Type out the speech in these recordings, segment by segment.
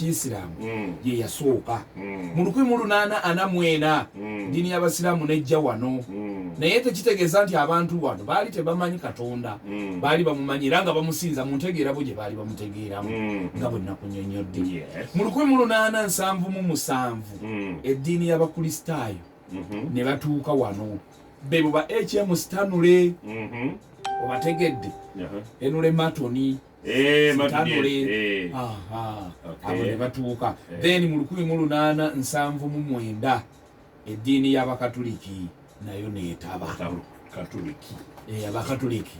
kyisiraamu mm. ye yasooka mm. mu lukumi mu lunaana ana mu ena mm. ddiini y'abasiraamu nejja wano naye tekitegeeza nti abantu wano baali tebamanyi katonda baali bamumanyi era nga bamusinza mu ntegeera bo gye baali bamutegeeramu nga bwe nakunyonyodde mu lukumi mu lunaana nsanvu mu musanvu eddiini y'abakristaayo mm-hmm. ne batuuka wano bebo ba hm stanule mm-hmm. obategedde uh-huh. enule matoni Eh, tanule eh. abo ne batuuka eh. then mu lukumi mu lunaana nsanvu mu mwenda eddiini y'abakatuliki nayo neetaba abakatuliki abakatuliki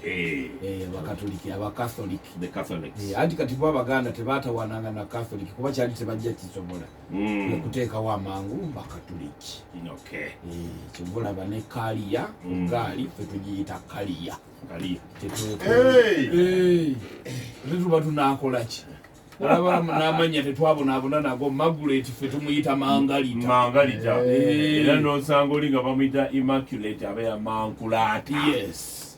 abakatholiki anti kati bo abaganda tebaatawananga na katholiki kuba kyali tebajja kisobola hmm. okuteekawo amangu bakatuliki kyova olaba ne kaliya hmm. gaali fe tugiyita kaliya Angalia. Hey. Tuba tunakola ki? Alaba namanya tetwabonaabona nago Margaret ffe tumuyita Mangalita. Mangalita. Era n'osanga oli nga bamuyita Immaculate aba ya Mankulaati. Yes.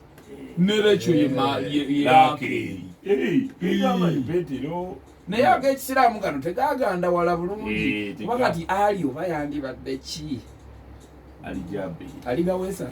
Ne Rachel ye ma ye ye Rakeri. Hey. Igama ibetiro. Naye ag'ekisiraamu gano tegaganda wala bulungi. Kuba kati ali oba yandibadde ki? Ali jabi. Ali gawesa.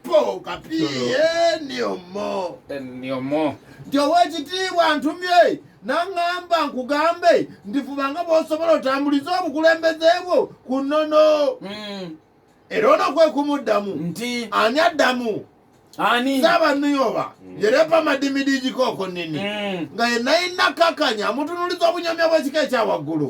poka piyeniomo nti owekitiibwa ntumye naŋŋamba nkugambe ndifuba nga bw'osobola otambulize obukulembeze bwo ku nnono hmm. era ono kwe kumuddamu nti ani addamu ani saba nuyoba hmm. yerepa madimidi gikooko nini hmm. nga yenayina kakanya amutunuliza obunyomya bw'ekika ekya waggulu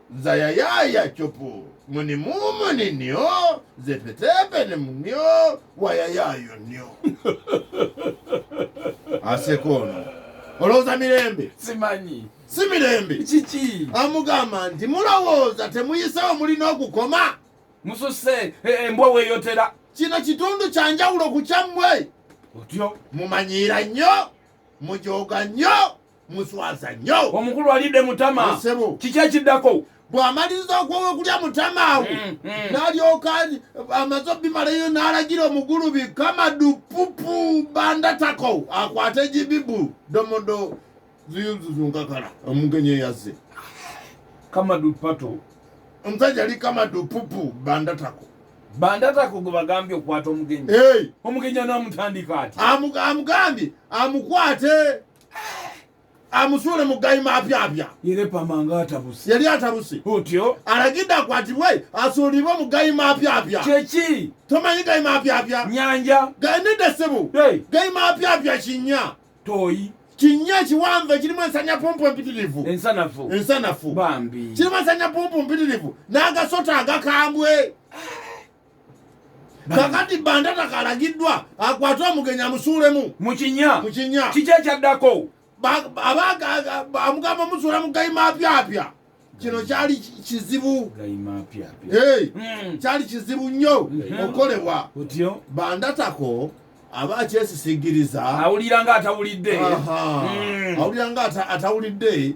zayayaya copo muni mumuni nio zepetepe ni munio wayayayo nio asekono olowooza mirembe simanyi si mirembe kiki amugamba nti mulowooza temuyisewo mulina okukoma mususe e- embwa weyotera kino kitundu kyanjawulo ku kyammwe otyo mumanyiira nnyo mujooga nnyo muswaza nnyo omukulu alidde mutama kiki ekiddako bw'amaliriza okuwa okulya mutama awo mm, mm. n'alyoka amaze obimalayo n'alagira omugulubi kamadu pupu bandatako akwate egibibu domodo ziyuzuzunkakala omugenyi eyazze kamadu pato omusajja ali kamadu pupu bandatako bandatako gwe bagambye okukwata omugenyi omugenyi anaamutandika ati amugambye amukwate amusuule mu gayi mapyapya yali atabuse otyo alagidde akwatibwe asuulibwe mu gayi mapyapya kyeki tomanyi gayi mapyapya nyanja ganidde ssebo gayi mapyapya kinya toyi kinya ekiwanvu ekirimu ensanya pumpu empitirivu ensanafu bambi kirimu ensanya pumpu mpitirivu n'agasota agakambwe kakati bandata kalagiddwa akwate omugenyi amusuulemu mukinya mukinya kiki ekyaddako amugamba omusuula mu gayimapyapya kino kyali kizibu hmm. kyali kizibu nnyo hmm. okukolebwa bandatako aba akyesisigiriza awulira nga atawulidde hmm. awulira nga atawulidde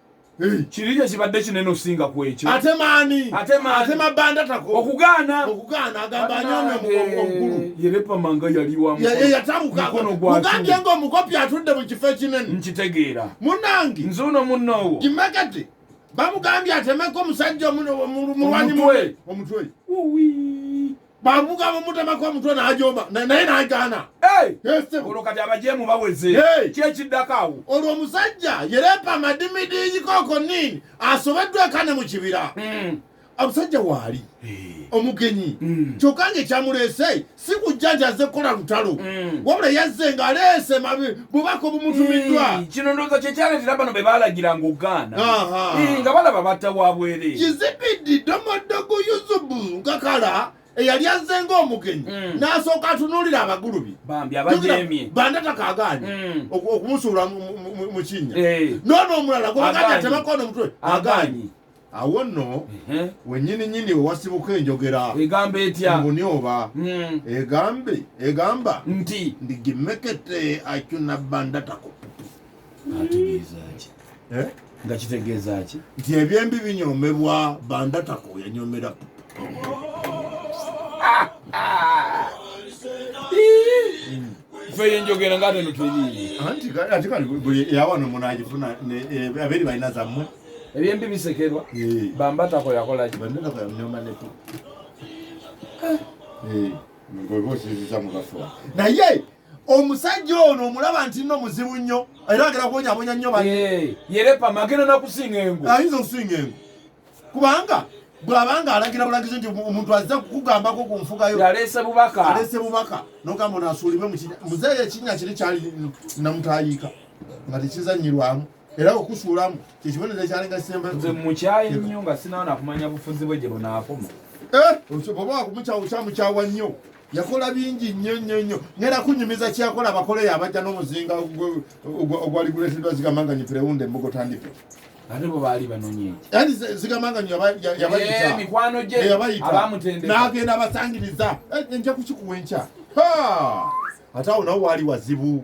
kirinyo kibadde kinene osinga ku ekyo ate maani ate mabanda tako okugaana okugaana agamba anyonga omukulu yerepamanga yali wamuyatabukagambye nga omukopi atudde mu kifo ekinene nkitegeera munange nze uno munnoowo kimekete bamugambye atemeko omusajja omulwanyi omutwe bavuga bamutemako omutwe najomba naye nagaana olwo kati abajemu baweze kyekiddako awo olwo omusajja yerepa amadimidiyikoko nini asobeddwa ekane mu kibira hmm. omusajja waali omugenyi hmm. kyokka nga ekyamuleese si kujja nti azze kukola lutalo hmm. wabula yazze ng'aleese bubaka obumutumiddwa hmm, kino ndowooza kyekyaleetera bano be baalagiranga ogaana hmm, nga balaba batta wa bwere kizibiddi domodogo yusubu nkakala eyali azze ngaomugenyi hmm. n'asooka atunuulira abagulubi bandatakagaanyi okumusuula mu kinnya eh. noono omulala gobagati atebakoona omutwe agaanyi awo nno wenyini nyini owasibuka enjogera egamba etya mbuni oba hmm. egambe egamba nti ndigimekete acuna banda takopupu ategeezaki eh? nga kitegeeza ki nti ebyembi binyomebwa banda tako yanyomera feye njogera nga ate notulii anti kati kali yawano munagifuna eh, aberi balina zammwe ebyembi bisekerwa bambatako yakolaki bambatako yamnyoma nepo naye omusajja ono omulaba nti no muzibu nnyo era agera kuwonyabonya nnyo yerepa magenda nakusinga engu ayinza okusinga engu kubanga bwabanga alagira bulagizi nti omuntu azza kukugambako ku nfuga yo yaleese bubaka aleese bubaka nogamba ono asuulibwe muzeeyo ekinnya kiri kyali namutayiika nga tekizannyirwamu era okusuulamu kyekibonerezo ekyalinga kisembayo nze mukyaye nnyo nga sinawo nakumanya bufuzi bwe gye bunaakoma eh, oba wakumukyawo kyamukyawa nnyo yakola bingi nnyo nnyo nnyo ngera kunyumiza kyeyakola abakoleyo abajja n'omuzinga ogwali guleeteddwa zigamanga nyo perewunda embugo tandike ate bo baali banonye yani zigamanga nyo yabayitaemikwano eh, gye abamutendeka n'agenda abasangiriza eh, nja kukikuwa enkya ate awo nawo waali wazibu